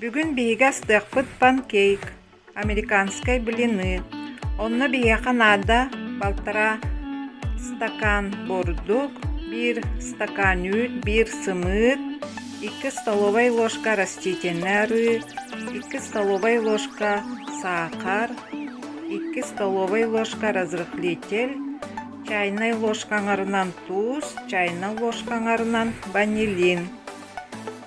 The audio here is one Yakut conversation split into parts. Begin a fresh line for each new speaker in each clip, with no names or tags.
Бүгүн биһиги астыахпыт панкейк, американскай блины, онно биһиэхэ наада балтараа стакан бордук, биир стакан үүт, биир сымыыт, икки столовай ложка растительнай арыы, икки столовай ложка саахар, икки столовай ложка разрыхлитель, чайнай ложка аҥарынан туус, чайнай ложка аҥарынан ванилин.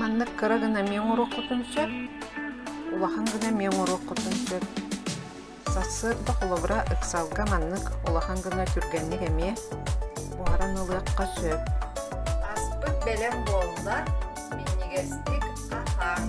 Маннык кыра гына эмиэ оҥоруоххутун сөп, улахан гына эмиэ оҥоруоххутун сөп. Сарсыарда холобура ыксалга маннык улахан гына түргэнник эмиэ буһаран ылыахха сөп. Аспыт бэлэм буолла. Минньигэстик аһаан.